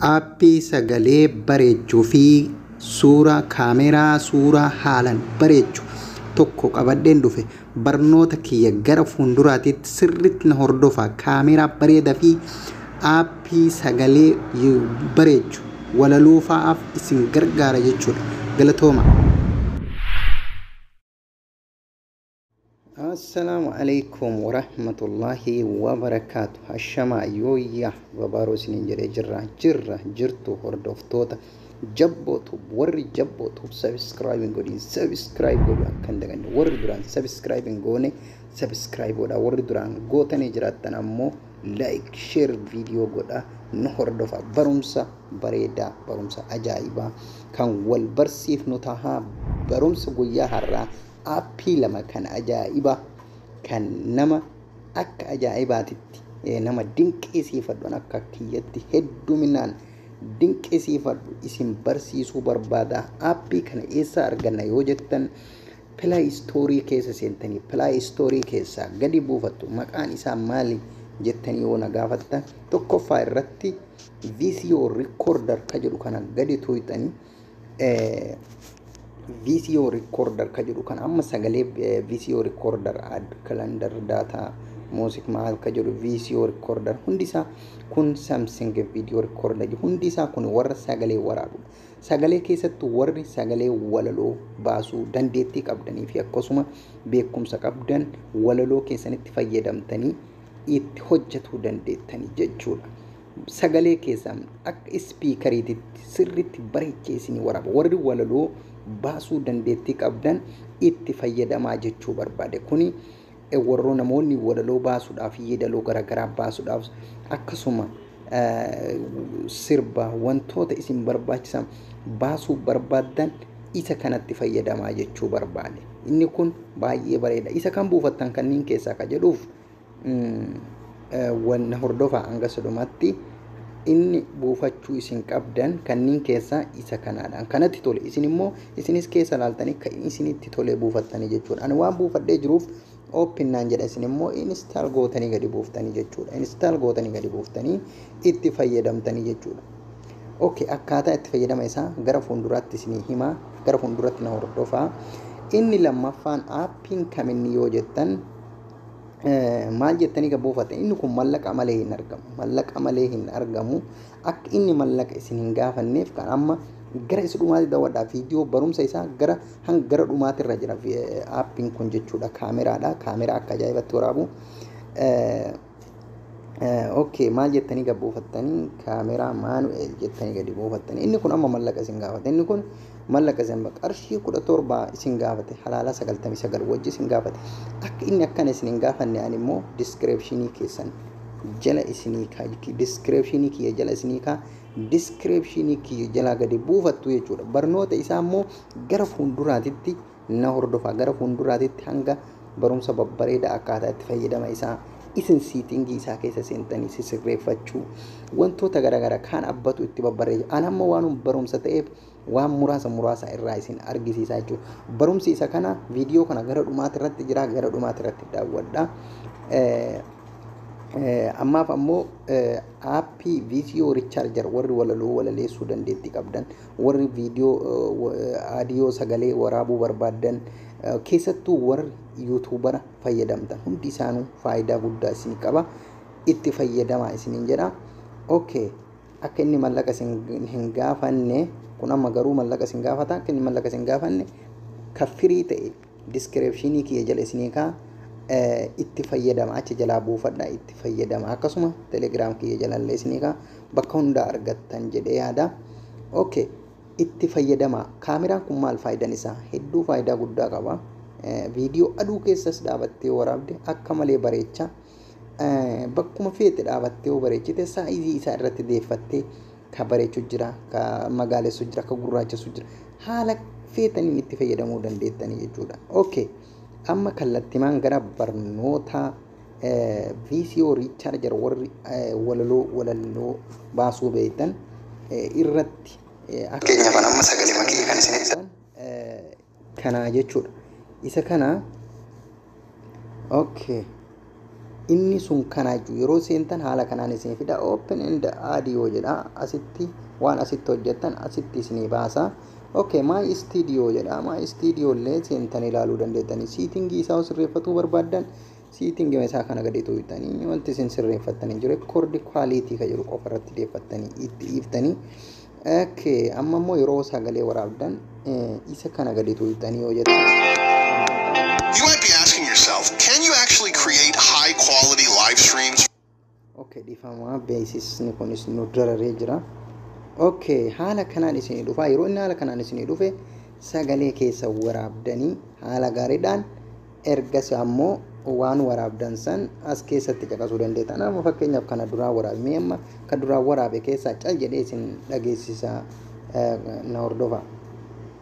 Aappii sagalee bareechu fi suura kaameeraa suura haalan bareechu tokko qabadhen dhufe barnoota kiyya gara fuunduraatiitti sirritti na hordofa kaameeraa bareeda fi aappii sagalee bareechu walaloo fa'aaf isin gargaara jechuudha galatooma. Assalaamu alaikum warahmatullahi wabarakaatu Hashamaa yooyyaa babaaroo isiniin jedhee jirra jirra jirtu hordoftoota jabboo tub warri jabboo tub sabiskiraayib hin godhin sabiskiraayib godhu akka hin daganne warri duraan sabiskiraayib hin goone sabiskiraayib godha warri duraan gootanii jiraattan ammoo laayik sheer viidiyoo godha nu hordofa barumsa bareedaa barumsa ajaa'ibaa kan wal barsiifnu tahaa barumsa guyyaa har'aa Appii lama kan ajaa'iba kan nama akka ajaa'ibaatitti nama dinqiisiifadhu an akka kiyyatti hedduminaan dinqisiifadhu isin barsiisuu barbaada appii kana eessa arganna yoo jettan pilay istoorii keessa seentanii pilay istoorii keessaa gadi buufattu maqaan isaa maali jettanii yoo na gaafattan tokkoffaa irratti viisiyoo rikoorder ka jedhu kana gadi tuuxanii VCO recorder ka jedhu kan amma sagalee eh, VCO recorder add calendar data music maal ka jedhu VCO recorder hundi isaa kun Samsung video recorder jedhu hundi isaa kun warra sagalee waraabudha. Sagalee keessatti warri sagalee walaloo baasuu dandeettii qabdanii fi akkasuma beekumsa qabdan walaloo keessanitti fayyadamtanii itti hojjetuu dandeettanii jechuudha. sagalee keessan akka ispiikariititti sirriitti bareechee isinii waraaba. Warri walaloo baasuu dandeettii qabdan itti fayyadamaa jechuu barbaade. Kuni eh, warroo namoonni walaloo baasuudhaaf, yeedaloo garaagaraa baasuudhaaf akkasuma eh, sirba wantoota isin barbaachisan baasuu barbaaddan isa kanatti fayyadamaa jechuu barbaade. Inni kun baay'ee bareeda. Isa kan buufattan kanneen keessaa ka jedhuuf wanna hordofaa hanga sudhumatti inni buufachuu isin qabdan kanniin keessaa isa kanaadhaan kanatti tole isin immoo isinis keessa laaltanii kan isinitti tolee buufattanii jechuudha ani waan buufadhee jiruuf open naan jedha isin immoo install gootanii gadi buuftanii jechuudha install gootanii gadi buuftanii itti fayyadamtanii jechuudha okay akkaataa itti fayyadama isaa gara fuulduraatti isinii himaa gara fuulduratti na hordofaa inni lammaffaan aappiin kaminni yoo jettan maal jettanii ka buufate inni kun mallaqa malee hin argamu mallaqa malee hin argamu akka inni mallaqa isin hin gaafanneef kan amma gara isa dhumaatti daawwadhaa viidiyoo barumsa isaa gara hanga gara dhumaatti irra jira aappiin kun jechuudha kaameraadha kaameraa akka ajaa'ibaatti waraabu ok maal jettanii gad buufattanii kaameraa maanu'eel jettanii gadi buufattanii inni kun amma mallaqa isin gaafate inni kun mallaqa isin gaafate qarshii kudha torba isin gaafate halaalaa sagaltamii sagal wajji isin gaafate akka inni akkana isin hin gaafanne ani immoo diskireepshinii keessan jala isinii kaa diskireepshinii kiyya jala isinii kaa diskireepshinii kiyya jalaa gadi buufattu jechuudha barnoota isaa immoo gara fuulduraatitti na hordofaa gara fuunduraatitti hanga barumsa babbareeda akkaataa itti fayyadama isaa isin siitingii isaa keessa seentanii sisirreeffachuu wantoota garaagara kaan abbatu itti babbareeju an amma waanum barumsa ta'eef waan muraasa muraasa irraa isin argisiisaa jechuudha barumsi isa kana viidiyoo kana gara dhumaati irratti jira gara dhumaati irratti daawwadha ammaaf ammoo aappii viidiyoo richaarjar warri walaloo walaleessuu dandeettii qabdan Warri video audio sagalee waraabuu barbaaddan keessattuu warri yuutuubara fayyadamtan hundi isaanuu faayidaa guddaa isin qaba. Itti fayyadamaa isiniin jedha. Okay. Akka inni mallaqa isin hin gaafanne kun amma garuu mallaqa isin gaafata akka inni mallaqa isin gaafanne kan firii ta'e Diskireepshiinii kiyya jala isinii kaa, ee itti fayyadama achi jalaa buufadha itti fayyadama akkasuma telegram kiyya jalallee isinii kaa bakka hundaa argattan jedhee yaada okay itti fayyadama kaameraan kun maal faayidan isaa hedduu faayidaa guddaa qaba viidiyoo aduu keessas dhaabattee waraabde akka malee bareecha bakkuma feete dhaabattee yoo bareechite saayizii isaa irratti deeffattee ka bareechu jira ka magaalessu jira ka gurraachessu jira haala feetaniin itti fayyadamuu dandeettanii jechuudha. Okay. Amma kallattimaan gara barnoota VCO Recharger warri walaloo walaloo baasuu beektan irratti akka Fakkeenyaaf amma sagalee makee kan isin ibsa. kana jechuudha isa kana okay inni sun kana jechuudha yeroo seentan haala kanaan isin fida open and audio jedha asitti waan asitti hojjettan asitti isinii baasa okay my studio jedha my studio illee seentan ilaaluu dandeettani siitingii isaa sirreeffatuu barbaaddan Siitingi isaa kana gadi tuuttanii wanti isin sirreeffattanii jiru rekoordi kwaaliitii kan jedhu qofa irratti deeffattanii itti iiftanii okay amma immoo yeroo sagalee waraabdan isa kana gadi tuuttanii yoo jettan You might be asking yourself, can you actually create high quality live streams? Okay dhifamaa beeksisni kunis nu dararee jira. Okay haala kanaan isinii dhufaa yeroo inni haala kanaan isinii dhufe sagalee keessa waraabdanii haala gaariidhaan ergas ammoo waan waraabdan san as keessatti caqasuu dandeetta. Nama fakkeenyaaf kana duraa waraabe mee amma kan duraa waraabe keessaa cal jedhee isin dhageessisaa na hordofaa.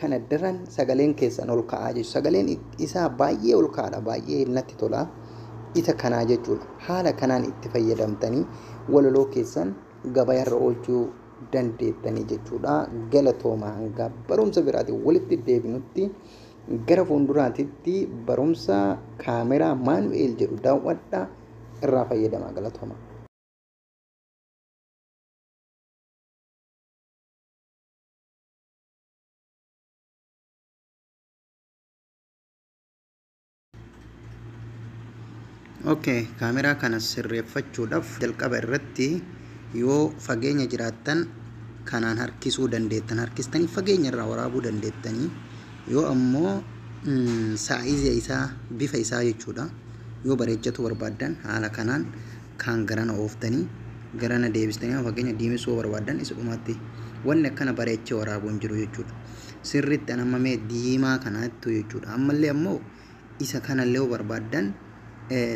kana daran sagaleen keessan ol ka'aa jechuudha. Sagaleen isaa baay'ee ol ka'aadha. Baay'ee natti tola. Isa kanaa jechuudha. Haala kanaan itti fayyadamtanii walaloo keessan gabayarra oolchuu dandeettanii jechuudha. Galatooma hanga barumsa biraatiin walitti deebinutti gara fuulduraatitti barumsa kaameraa maanu'eel jedhu daawwadha irraa fayyadamaa galatooma. okay kaameraa kana sirreeffachuudhaaf jalqaba irratti yoo fageenya jiraattan kanaan harkisuu dandeettan harkistanii fageenya irraa waraabuu dandeettanii yoo ammoo saayizii isaa bifa isaa jechuudha yoo bareechatu barbaaddan haala kanaan kaan garana ooftanii garana deebistanii amma fakkeenya diimessuu yoo barbaaddan isa dhumaatti wanni akkana bareechee waraabuu hin jiru jechuudha. Sirriitti an amma mee diimaa kanaattu jechuudha. Ammallee ammoo isa kanallee yoo barbaaddan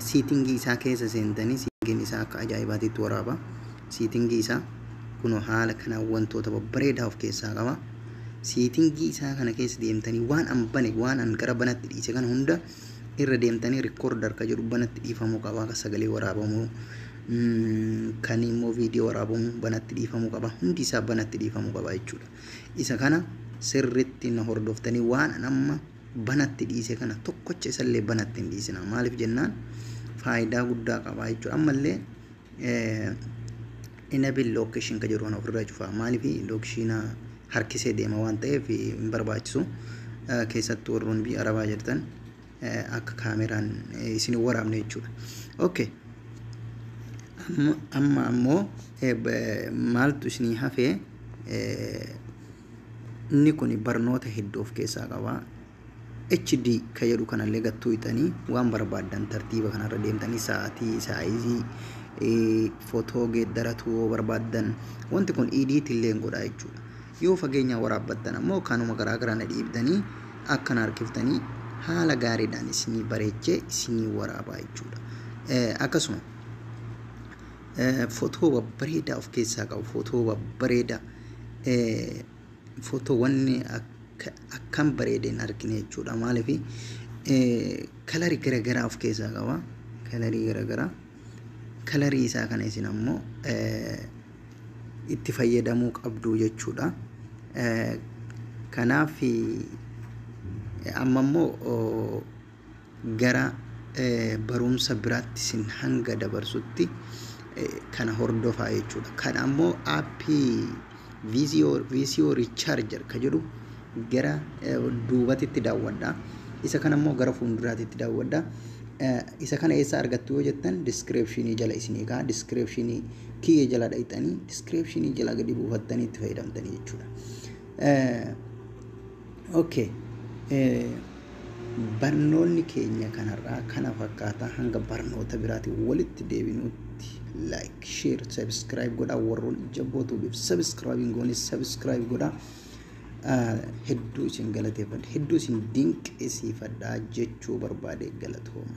siitingii isaa keessa seentanii siitingiin isaa akka ajaa'ibaatiitti waraaba. Siitingii isaa kunoo haala kanaan wantoota babbareedaa of keessaa qaba. Siitingii isaa kana keessa deemtanii waan an bane waan an gara banatti dhiise kana hunda irra deemtanii recorder ka jedhu banatti dhiifamuu qaba ka sagalee waraabamu kan immoo viidiyoo waraabamu banatti dhiifamuu qaba hundi isaa banatti dhiifamuu qaba jechuudha isa kana sirritti na hordoftanii waan an amma banatti dhiise kana tokkocha isallee banatti hin dhiisina maaliif jennaan faayidaa guddaa qaba jechuudha ammallee Enable location ka jedhu kana ofirraa cufaa maaliif lookishiina harkisee deema waan ta'eef hin barbaachisu keessattuu warroonni biyya arabaa jirtan akka kaameraan isin hin waraabne jechuudha. Okay. Amma ammoo maaltu isinii hafee inni kun barnoota hedduu of keessaa qaba. HD ka jedhu kanallee gad tuuyxanii waan barbaaddan tartiiba kanarra deemtanii sa'aatii, saayizii, fotoo geeddaratuu yoo barbaaddan wanti kun edit illee hin godhaa jechuudha. Yoo fageenyaan waraabbattan ammoo kanuma garaa garana dhiibdanii akkana harkiftanii haala gaariidhaan isinii bareechee isinii waraabaa jechuudha. Akkasuma fotoo babbareedaa of keessaa qabu fotoo babbareedaa Footoowwan akkam bareeda hin argine jechuudha. Maaliif kalarii garaagaraa of keessaa qaba. Kalarii garaagaraa. Kalarii isaa kana isin ammoo itti fayyadamuu qabdu jechuudha. Kanaaf amma immoo Gara barumsa biraatti isin hanga dabarsutti kana hordofaa jechuudha. Kana ammoo aappii VCO, VCO Recharger ka jedhu gara duubatitti daawwadha. Isa kana ammoo gara fuulduraatitti daawwadha. Isa kana eessaa argattu yoo jettan diskireepshinii jala isinii ka'a. Diskireepshinii kiyya jala dhaqxanii diskireepshinii jala gadi buufattanii itti fayyadamtanii jechuudha. Ok Barnoonni keenya kan har'aa kana fakkaata hanga barnoota biraatiin walitti deebinutti like share subscribe godhaa warroon jabboo tuubiif subscribe hin goones subscribe godhaa Ah, hedduu isin galateeffadha hedduu isin dinqisiifadha jechuu barbaade galatooma.